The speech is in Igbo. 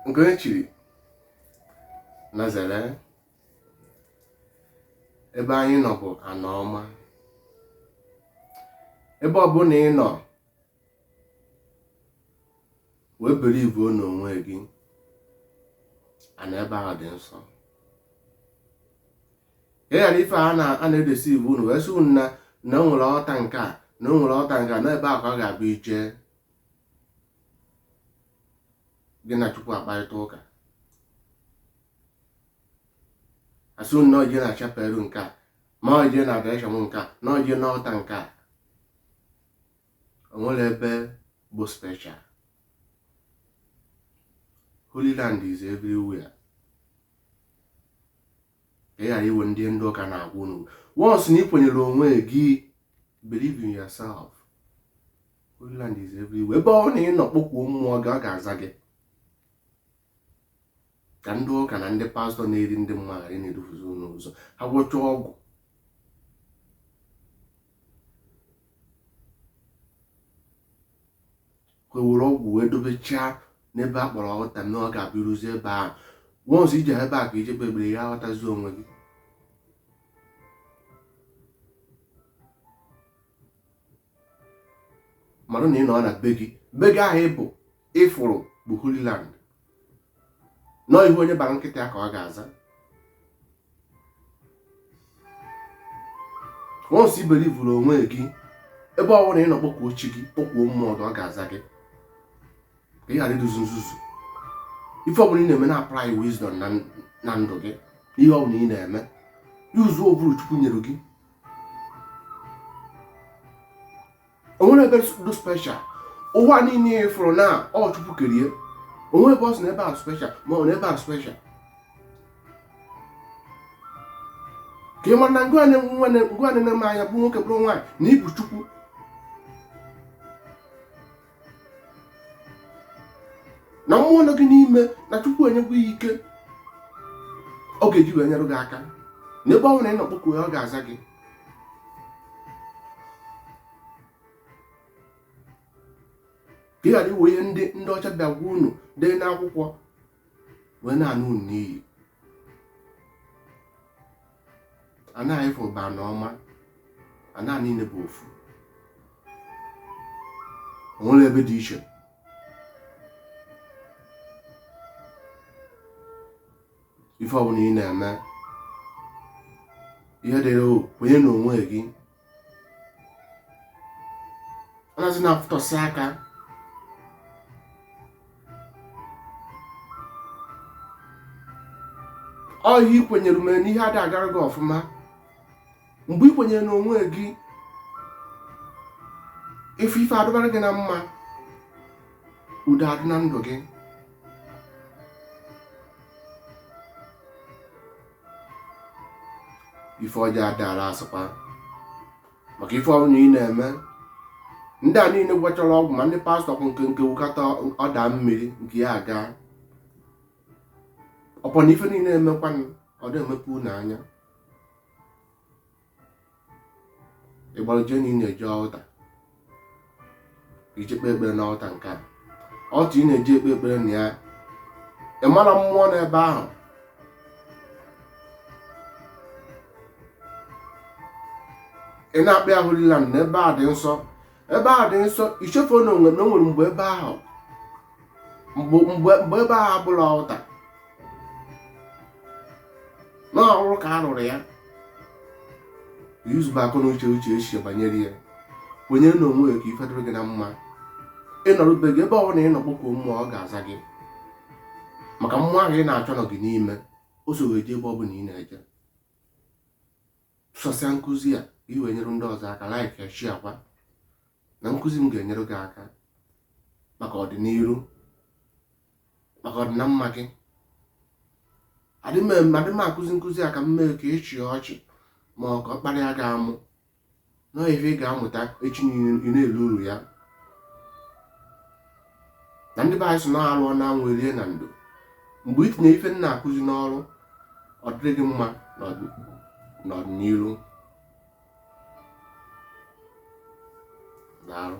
nke onye chiri na zere ebe anyị nọ bụ ana ọma ebe ọbụla ị nọ wee believe n'onwe gị ana ebe ahụ dị nsọ ka ị ghara ife a na-edeceive unu wee sị unu na na o nwere altar nke a na o nwere altar nke a na ebe ahụ ka ọ ga-abụ i je gị na chukwu akparịta ụka a sị na o je na chapel nke a ma o je na adoration nke a na o je na altar nke a o nwerọ ebe bụ special holy land is everywhere ka ị ghara iwe ndị ndị ụka na-agwa unu once na ị kwenyere onwe gị believe in yourself Holyland is everywhere ebe ọbụna ị nọ kpọkuo mmụọ gị ọ ga-aza gị ka ndị ụka na ndị pastor na-eri ndị mmadụ ghara na-edufuzi unu ụzọ ha gwọcha ọgwụ were ọgwụ wee dobechaa n'ebe a kpọrọ altar na ọ ga-abụ i ruzi ebe a once i je ebe a ka i je kpee prayer aghọtazi onwe gị mara na ị nọ na be gị be gị ahụ i bu ị fụrụ bụ Holy Land na ọ ihe onye bara nkịta ya ka ọ ga-aza once i believuru onwe gị ebe ọ bụla ị nọ kpọkuo chi gị kpọkuo mmụọ ọ ga-aza gị ka ị ghara iduzi nzuzu ife ọbụla ị na-eme na-apply wisdom na ndụ gị ihe ọbụla ị na-eme use ụbụrụ chukwu nyere gị o nwerọ ebe dị special ụwa niile ị fụrụ na ọ chukwu kere ya o nwerọ ebe ọ sị na ebe a special ma ọ na ebe a special ka ị mara na ngwa na-eme anya bụ nwoke bụrụ nwaanyị na i bu chukwu na mmụọ nọ gị n'ime na chukwu enyego ya ike ọ ga-eji wee nyere gị aka na ebe ọ bụla ị nọ kpọkuo ya ọ ga-aza gị ka ị ghara iwe ihe ndị ndị ọcha bịa gwa unu dee n'akwụkwọ wee na-ana unu n'iyi ana ị fụ bụ ana ọma ana niile bụ ofu o nwerọ ebe dị iche ife ọbụla ị na-eme ihe dịrị o kwenye na onwe gị anazi na-afụtọsị aka ọ ihe i kwenyere mere na ihe ada agara gị ọfụma mgbe i kwenyere na onwe gị ị fụ ife adịbara gị na mma udo adị na ndụ gị ife ọjọọ adara asụkwa maka ife ọbụla ị na-eme ndị a niile gwọchara ọgwụ ma ndị pastor kwụ nke nke wukata ọ daa mmiri nke ya aga ọ bụ na ife niile emekwanụ ọ da emepe unu anya ị gbara ije na ị na-eje altar ije kpee ekpere na altar nke a altar ị na-eje ekpe ekpere na ya ị mara mmụọ nọ ebe ahụ ị na-akpọ ya Holy Land na ebe a dị nsọ ebe ahụ dị nsọ i chefu na onwe na o nwere mgbe ebe ahụ mgbe mgbe mgbe ebe ahụ abụrọ altar na ọrụrụ ka a rụrụ ya yuzube akọ na uche chee echiche banyere ya kwenyere na onwe gị ka ife dịrị gị na mma ị nọrọ be gị ebe ọbụla ị nọ kpọkuo mmụọ ọ ga-aza gị maka mmụọ ahụ ị na-achọ nọ gị n'ime o so wee jee ebe ọbụla ị na-eje so share nkụzi a ka i wee nyere ndị ọzọ aka like ya share kwa na nkụzi m ga-enyere gị aka maka ọdịniru maka ọdị na mma gị adị m adị m akụzi nkụzi a ka m mee ka ị chịa ọchị ma ọ ka ọ kparịa gị amụ na ife ị ga-amụta echi niile ị na-eri uru ya na ndị be anyị sị na arụọ na anwụ e rie na ndo mgbe ị tinye ife m na-akụzi n'ọrụ ọ dịrị gị mma n'ọdịniru daalụ